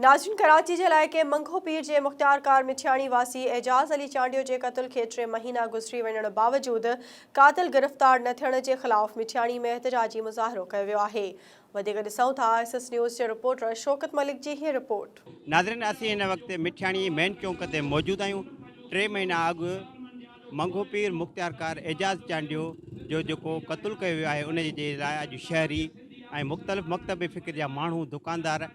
ناظرين ڪراچي جي علائقي منگهو پير جي مختيار ڪار مٺياڻي واسي اعجاز علي چانڊيو جي قتل کي ٽي مهينا گذري وڃڻ باوجود قاتل گرفتار نه ٿيڻ جي خلاف مٺياڻي ۾ احتجاجي مظاهرو ڪيو ويو آهي وڌيڪ ڏسون ٿا ايس ايس نيوز جي رپورٽر شوڪت ملڪ جي هي رپورٽ. ناظرين اسين هن وقت مٺياڻي مين چونڪ تي موجود آهيون ٽي مهينا اڳ منگهو پير مختيارڪار اعجاز چانڊيو جو جيڪو قتل ڪيو ويو آهي انهي جي لاء اڄ شهري ۽ مختلف مڪتب فڪر جا ماڻهو دڪاندار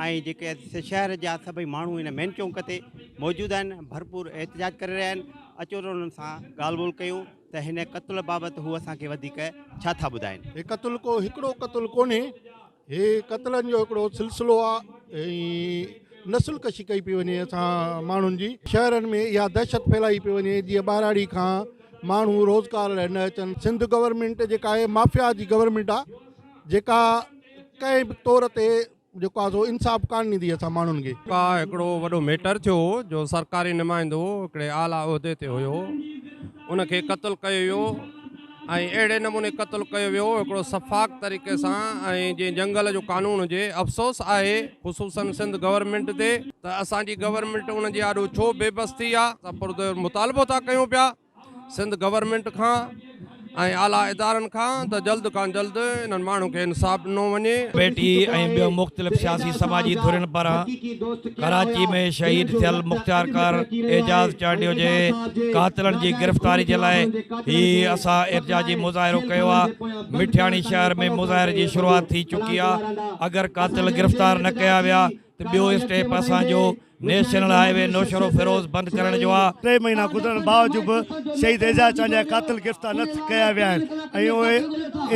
۽ جيڪي شهر جا سڀئي ماڻهو هن مين چونڪ تي موجود آهن ڀرپور احتجاج ڪري رهيا آهن اچو ته انهن سان ڳالهه ٻولهه ڪيون ته هن قتل بابت هو اسان کي وڌيڪ ڇا ٿا ٻڌائين. هي قتل ڪو هڪڙو قتل ڪونهي. هي قتلن جو هڪڙو سلسلو آ ۽ نسل ڪشي ڪئي پئي وڃي اسان ماڻهن جي شهرن ۾ اها دهشت ڦهلائي پئي وڃي جيئن ٻهراڙي کان ماڻهو روزگار لاء نه اچن سنڌ گورنمينٽ جيڪا آهي مافيا جي گورنمينٽ آ جيڪا ڪنهن به طور تي جيڪو آ سو انصاف ڪان ڏيندي اسان ماڻهن کي ڪا هڪڙو وڏو ميٽر ٿيو هو جو سرڪاري نمائندو هڪڙي اعليٰ عهدي تي هيو ان کي قتل ڪيو ويو ۽ اهڙي نموني قتل ڪيو ويو هڪڙو سفاڪ طريقي سان ۽ جئين جنگل جو قانون هجي افسوس آهي خصوصا سنڌ گورنمينٽ تي ته اسان جي گورنمينٽ ان جي آڏو ڇو بي بس ٿي آ اسان پرزور مطالبو ٿا ڪيون پيا سنڌ گورنمينٽ کان ۽ اعليٰ ادارن کان ته جلد کان جلد انهن ماڻهن کي انصاف ڏنو وڃي. پي ٽي آء ۽ ٻيون مختلف سياسي سماجي ڌرين پاران ڪراچي ۾ شهيد ٿيل مختيارڪار اعجاز چانڊيو جي قاتلن جي گرفتاري جي لاء هي اسان احتجاجي مظاهرو ڪيو آ مٺياڻي شهر ۾ مظاهري جي شروعات ٿي چڪي آ اگر قاتل گرفتار نه ڪيا ويا ته ٻيو اسٽيپ اسان جو national highway Naushahro Feroze بند ڪرڻ جو آ. ٽي مهينا گذرڻ باوجود به شهيد اعجاز چانڊيا جا قاتل گرفتار نه ڪيا ويا آهن ۽ اهي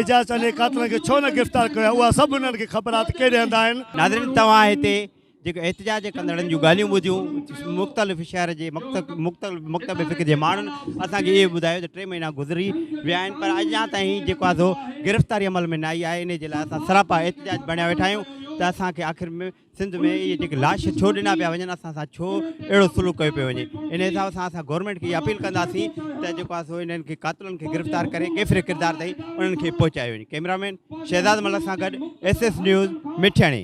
اعجاز چانڊيا جي قاتلن کي ڇو نه گرفتار ڪيو ويو آهي اها سڀ انهن کي خبر آ ته ڪهڙي هنڌ آهن. ناظرين توهان هتي جيڪي احتجاج ڪندڙن جون ڳالهيون ٻڌيون، مختلف شهر جي مڪتب فڪر جي ماڻهن اسان کي اهو ٻڌايو ته ٽي مهينا گذري ويا آهن پر اڃا تائين جيڪو آهي سو گرفتاري عمل ۾ نه آئي آهي، انهي جي لاء اسان سراپا احتجاج بڻيا ويٺا آهيون ته اسان کي آخر ۾ سنڌ ۾ اهي جيڪي لاش ڇو ڏنا پيا وڃن، اسان سان ڇو اهڙو سلوڪ ڪيو پيو وڃي، انهي حساب سان اسان گورنمينٽ کي اها اپيل ڪنداسين ته جيڪو آهي سو انهن کي قاتلن کي گرفتار ڪري ڪيفر ڪردار تائين انهن کي پهچايو وڃي. ڪئميرا مين شهزاد ملڪ سان گڏ ايس ايس نيوز مٺياڻي.